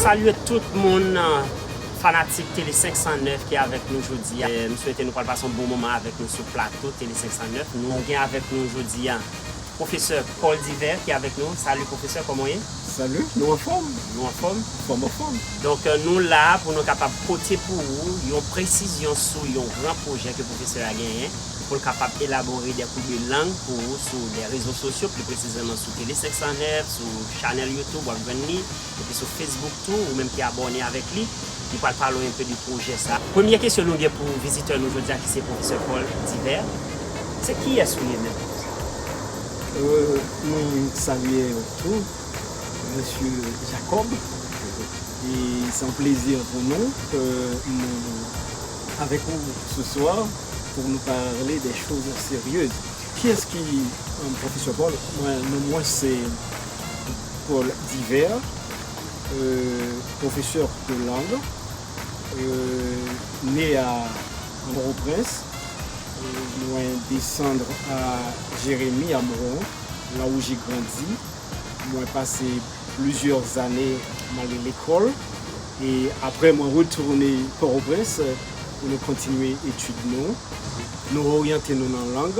Salye tout moun fanatik tele 509 ki avèk nou jodi a m swete nou pral pase yon bon moman avèk nou sou plato tele 509 nou gen avèk nou jodi a. Professeur Paul Divert ki avèk nou. Salut Professeur, kòman w ye? Salut, nou anfòm. Nou anfòm? Fòm anfòm. Donk nou la pou nou kapab pote pou ou yon presizyon sou yon gran pwojè ke Professeur a genyen pou l kapab elabore des cours de langue pou ou sou les réseaux sociaux, pli presizeman sou Tele 509, sou chanèl YouTube w ap jwenn li. Depi sou Facebook tou ou menm ki abòne avèk li, li pral pale w enpe de pwojè sa. Premye kesyon nou gen pou vizitè nou jodi a ki se Pwofesè Paul Divert, se kiyès ou ye menm Pwofesè Paul? Mwen salye ou tou Mesye Jacob, e se yon plezi pou nou ke nou avèk ou se swa pou nou pale de choz seryez. Kiyès ki Pwofesè Paul? Mwen, non mwen se. Paul Divert, pwofesè de lang, ne a Port-au-Prince, mwen desandr a Jeremi Amron, la ou je grandi, mwen pase plizyè zane male lekol, e apre mwen retounen Port-au-Prince pou nou kontinye etid nou. Nou oryante nou nan lang,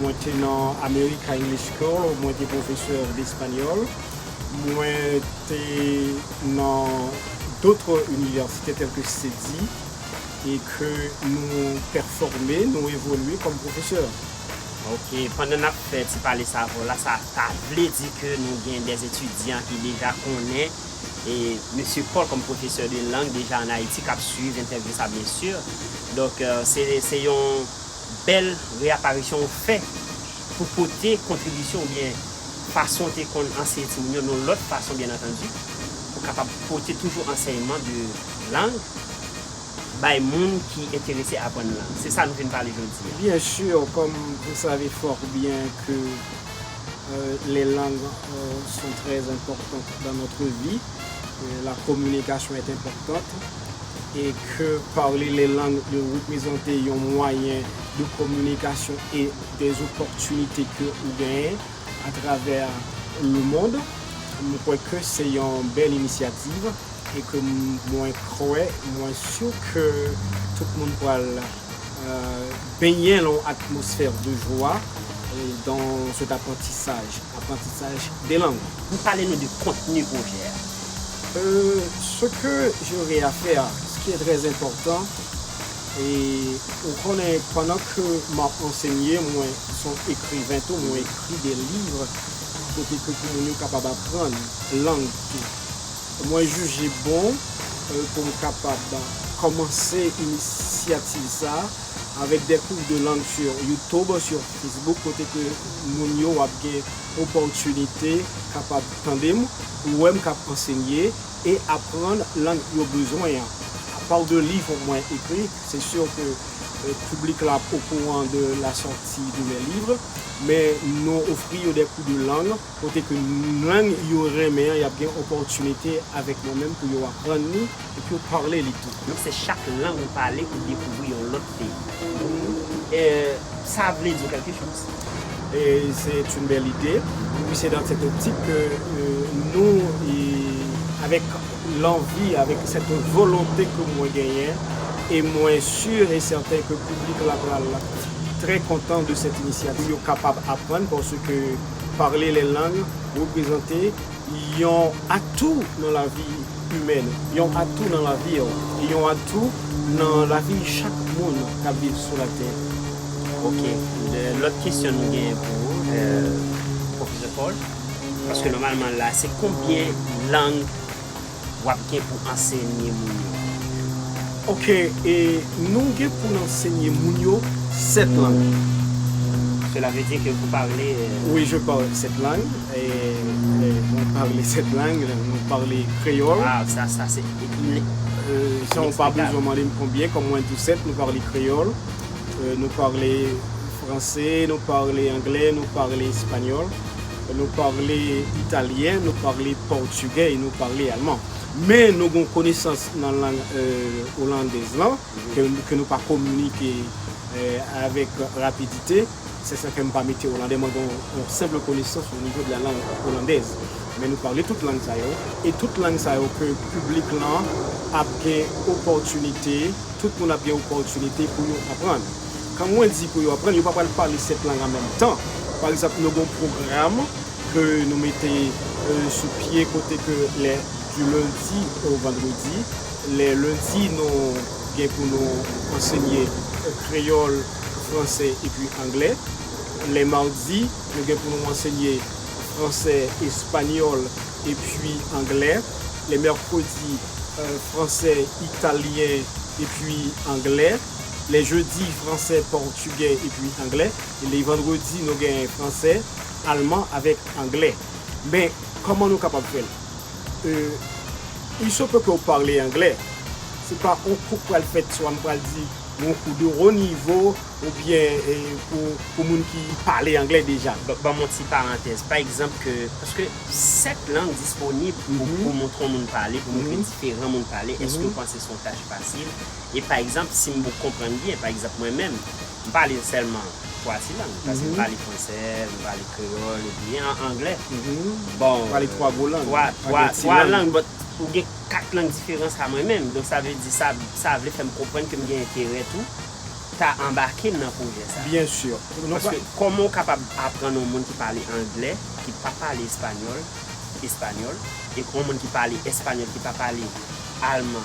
Mwen te nan America English School, mwen te pwofesè despanyòl. Mwen te nan dotre inivèsite tèlke Ceddy e ke nou pèfòme, nou evolye kòm pwofesè. Ok, pandan n ap fè ti pale savo la, sa ta vle di ke nou gen dè etidyan ki deja konnen Mesye Paul kòm pwofesè de lang deja an Ayiti k ap suiv entèvyou sa byensi. Donk, se yon Bèl reaparisyon ou fè pou pote kontribisyon oubyen fason ou te konn anseye timoun yo yon lòt fason byen antandi pou kapab pote toujou ansèyman de lang bay moun ki enterese aprann lang. Se sa nou vin pale jodi a. Byen sûr, comme vous savez fort bien que les langues sont très importantes dans notre vie, la communication est importante. e ke parle les langues yo reprezante yon mwayen de kominikasyon e de zopòtinite ke ou genyen a travè le mond, m kwè ke se yon bèl inisyativ e ke mwen kwè, mwen su ke tout moun pral benyen lan yon atmosfè de jwa dan cet aprantisaj, aprantisaj de lang. Pale nou de kontni pwojè a. Ce que j'aurai à faire a, ce qui est très important e ou konnen pandan ke map ansenye mwen son ekriven tou mwen ekri de livre kote ke pou moun yo kapab aprann lang tou mwen jije bon pou m kapab komanse inisyativ sa avek de kou de lang sur youtube sur facebook kote ke moun yo ap gen opòtinite kapab tande m. Ou wè m k ap ansenye e aprann lang yo bezwen an. A part de livre mwen ekri, c'est sûr que public la ap okouran de la sortie de mes livres, men nou ofri yo des cours de langue kote ke lang yo renmen an y ap gen opportunité avèk mwen menm pou yo aprann li. epi ou pale li tou. Non se chak lang ou pale ou dekouvri yon lòt peyi. Humm eh sa vle di kèlke chose. C'est une belle idée wi se dans cette optique que nou avec l'envie avec cette volonté que mwen genyen et mwen sur et certain que public la pral très content de cette initiative pou yo kapab aprann parce que parler les langues représenter Yon atou nan lavi imèn, yon atou nan lavi w, e yon atou nan lavi chak moun k ap viv sou latè. Ok, lòt kesyon m genyen pou ou Pwofesè Paul, paske nòmalman la se konbyen lang. Wap gen pou ansenye moun yo. Ok e nou gen pou n ansenye moun yo 7 lang. Cela veut dire que vous parlez. Oui je parle 7 langues. Mwen pale 7 lang. Mwen pale kreyòl. Waw sa sa se inexplikab. San w pa bezwen mande m konbyen kòm mwen di w 7 nou pale kreyòl nou pale franse nou pale angle nou pale espanyòl. Nou parle italyen, nou parle pòtugè e nou parle alman. Men nou gen yon konesans nan lang olandèz lan ke nou pa kominike avèk rapidite. Se sa fè m pa mete olandè. Mwen gen yon senpl konesans onivo de la lang olandèz. Men nou parle tout lang sa yo. E tout lang sa yo ke piblik lan ap gen opòtinite, tout moun ap gen opòtinite pou yo aprann. Kan mwen di pou yo aprann, yo pa pral pale 7 lang an menm tan. Pa egzanp, nou gen yon pwogram ke nou mete sou pye kote ke lè du lundi au vendredi, lè lendi nou gen pou nou ansenye kreyòl, fransè epi anglè, lè mardi nou gen pou nou ansenye fransè, espanyòl epi anglè, lè mèkredi fransè, italyen epi anglè. Le jedi, franse, pòtugè epi anglè. Le vandredi nou gen franse, alman avèk anglè. Men, kòman nou kapab fè l? Euh, il se peut ke ou pale anglè. Se pa yon kou k pral fèt sou a m pral di yon kou de wo nivo oubyen pou moun ki pale anglè deja. Ban m yon ti parantèz. Pa egzanp ke, paske 7 lang disponib pou moun konn moun pale, pou moun ke diferan moun pale, èske ou panse se yon tach fasil? E pa egzanp, si m bouk konprann byen, pa egzanp mwen menm, m pale sèlman twa ti lang. Paske m pale fransè, m pale kreyòl epi anglè. Bon, twa lang, but ou gen kat lang diferan sa mwen menm. Donk sa vle di, sa vle fè m konprann ke m gen enterè tou ta anbake m nan pwojè sa. Byensi. Paske kòman ou kapab aprann yon moun ki pale anglè, ki pa pale espanyòl, espanyòl, e yon moun ki pale espanyòl, ki pa pale alman,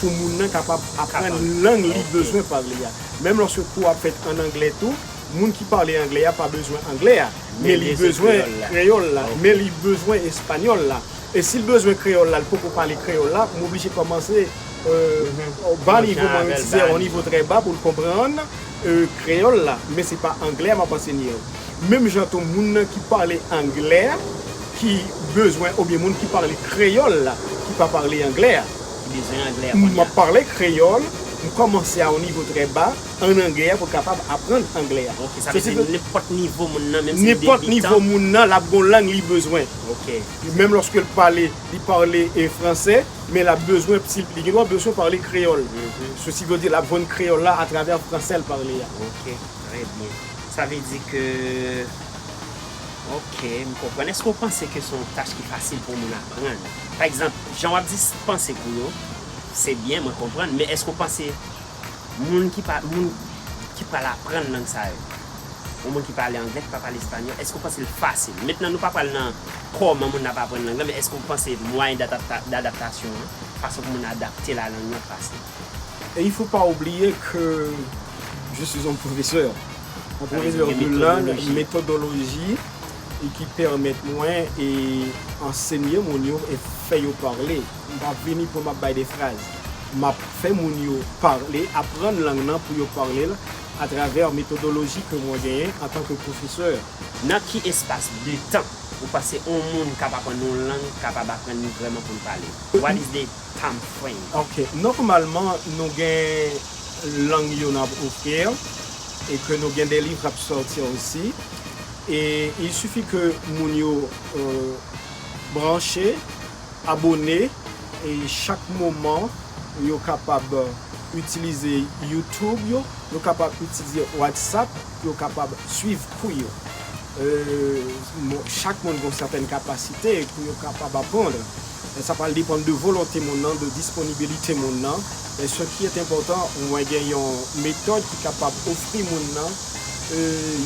pou moun nan kapab aprann lang li bezwen pale a. Menm lòske kou a fèt an angle tou, moun ki pale angle a pa bezwen angle a, men li bezwen kreyòl la, men li bezwen espanyòl la. E si l bezwen kreyòl la, li poko pale kreyòl la, m oblije kòmanse o ba nivo, mwen menm si se o nivo trè ba pou l konprann kreyòl la, men se pa angle a m ap ansenye l. Menm jan tou moun nan ki pale angle a. ki bezwen oubyen moun ki pale kreyòl la ki pa pale anglè a. Ki bezwen anglè a kounye a. M ap pale kreyòl, m kòmanse a yon nivo trè ba ann anglè a pou l kapab aprann anglè a. Ok, sa vle di nenpòt nivo moun nan menm si l debitan. Nenpòt nivo moun nan l ap gen yon lang li bezwen. Ok. Menm lòske l pale, li pale fransè, men l ap bezwen, li gen dwa bezwen pale kreyòl. Sesi vle di l ap jwenn kreyòl la atravè fransè l pale a. Ok, trè byen. Sa vle di ke. Ok, m konprann. Eske w panse ke se yon tach ki fasil pou yon moun aprann? Pa egzanp, jan w ap di panse pou yo, se byen, mwen konprann, men eske w panse moun ki pa, moun ki pral aprann lang sa yo, yon moun ki pale angle, ki pa pale espanyòl, eske w panse l fasil? Mentnan nou pa pral nan kòman moun nan ap aprann lang lan, men eske w panse mwayen dadaptasyon an, fason pou moun nan adapte l a lang lan fasil? Et il faut pas oublier que je suis un professeur, un professeur de langue, methodologie et qui permet mwen e enseigner moun yo e fè yo parler. M pa vini pou map bay des phrases. Map fè moun yo parler, apprendre langue nan pou yo parler l à travers methodologie ke mwen genyen en tant que professeur. Nan ki espas de tan ou panse on moun kap aprann on lang kapab aprann li vrèman pou l pale l? What is the. time frame. Ok, nòmalman nou gen lang yo nan ouvrir e ke nou gen de liv kap sòti osi e il suffit ke moun yo branche, abone e chak moman yo kapab itilize youtube yo, yo kapab itilize whatsapp pou yo kapab swiv kou yo. Chak moun gen yon sètèn kapasite pou yo kapab apprendre. Men sa pral depann de volonte moun nan, de disponibilite moun nan. Men se ki est enpòtan, mwen gen yon metòd ki kapab ofri moun nan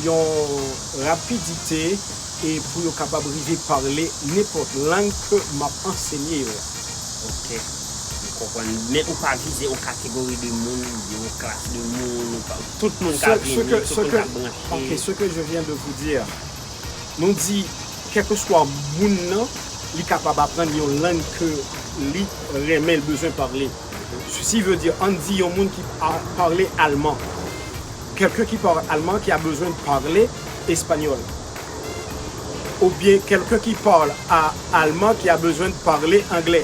yon rapidite e pou yo kapab rive pale nenpòt lang ke m ap ansenye yo a. Ok. M konprann. Men ou pa vize yon kategori de moun, oubyen yon klas de moun, ou pa, tout moun ka vini, tout moun ka branche. Ok, ce que je viens de vous dire. Nou di, kèlkeswa moun nan, li kapab aprann yon lang ke li renmen, li bezwen pale. Sesi ve di, ann di yon moun ki pale alman. Kèlken ki pale alman ki a bezwen pale espanyòl. Oubyen kèlken ki pale alman ki a bezwen pale angle.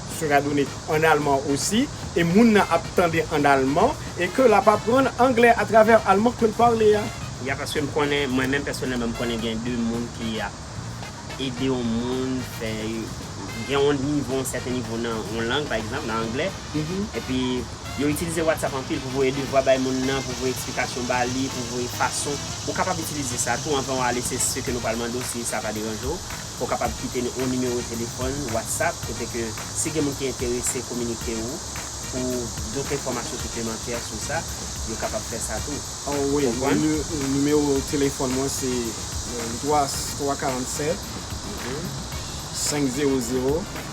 sera donné en allemand aussi e moun nan ap tande an alman e ke lap aprann anglè a travè alman ke l pale a. Ya paske m konnen mwen menm pèsonèlman m konnen gen de moun ki ap ede yon moun fè gen yon nivo yon sèten nivo nan yon lang pa egzanp nan anglè epi yo itilize whatsapp anpil pou voye devwa bay moun nan pou voye eksplikasyon ba li pou voye fason ou kapab itilize sa tou anvan w ale se se ke nou pral mande w si sa pa deranje w. Ou kapab kite n yon nimewo telefòn WhatsApp kote ke si gen moun ki enterese kominike ou pou dòt enfòmasyon siplemantè sou sa, yo kapab fè sa tou. Ou konprann? Nimewo telefòn mwen se 347 500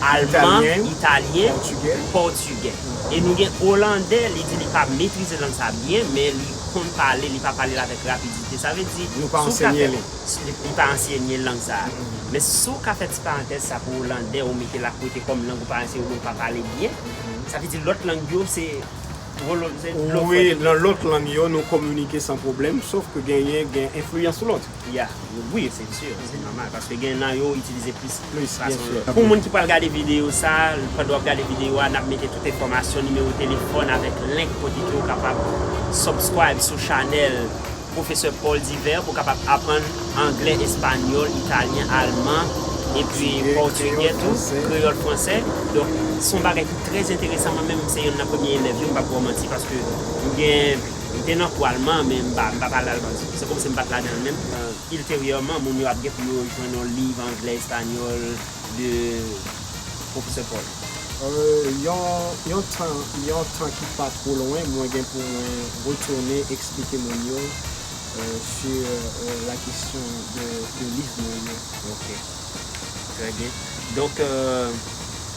Alman, Italyen, Pòtigè. E nou gen Olandè, li di li pa metrize lang sa byen, men li konn pale, li pa pale l avèk rapidite. Sa vle di, si w ka fè. Li pa ansyenye lang sa a. Men si w ka fè ti parantèz sa pou Olandè, ou mete l a kote kòm lang ou pa anseye yo men ou pa pale byen, sa vle di lòt lang yo se dlo frèt. Wi, nan lòt lang yo, nou kominike san pwoblèm, sof ke genyen gen enfliyans lòt. Ya wi se sur se normal paske gen nan yo itilize plis plis fason yo. Pou moun ki pral gade video sa pandan wap gade video a nap mete tout enfòmasyon nimewo telefòn avèk link kote ke ou kapab subscribe sou chanèl Professor Paul Divers pou kapab aprann anglè espanyòl italyen alman epi pòtigè tou kreyòl fransè donk son bagay ki trè enteresan mwen menm se yonn nan premye elèv yo m pap baw manti paske m gen M te nan pwa l man, men m pa pale al man. Se kòmsi m pa t ladan l menm. Ilteryèman, moun yo ap gen pou yo jwenn yon liv anglè, espanyòl de Pwofesè Paul. Yon tan, yon tan ki pa two lwen, mwen gen pou mwen retounen eksplike moun yo sur la kesyon de liv mwen yo. Ok. Trè byen. Donk.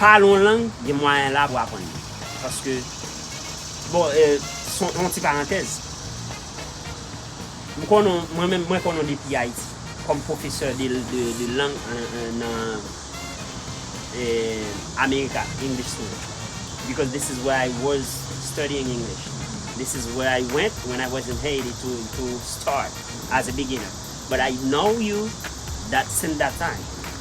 Pale yon lang gen mwayen la pou aprann li. Paske bon son yon ti parantèz. M konnen mwen menm mwen konnen depi Ayiti kòm pwofesè de lang nan America English school because this is where I was studying English. This is where I went when I was in Haiti to start as a beginner. But I know you that since that time.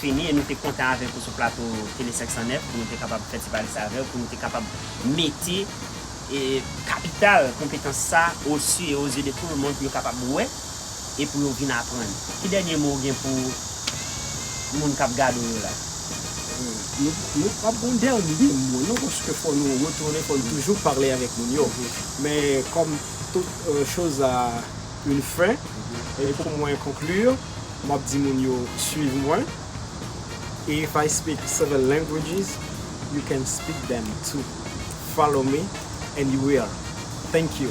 Fini e nou te kontan avèk ou sou plato tele 509 pou nou te kapab fè ti pale sa avèw pou nou te kapab mete kapital konpetans sa o su e o zye de tou le mond pou yo kapab wè e pou yo vin aprann. Ki dènye mo ou gen pou moun kap gade w yo la? Nou pap gon dènye mo non paske fò nou retounen fò nou toujou pale avèk moun yo men kòm tout choz a. une fin e pou mwen conclure map di moun yo swiv mwen if I speak seven languages you can speak them too follow me and you will thank you.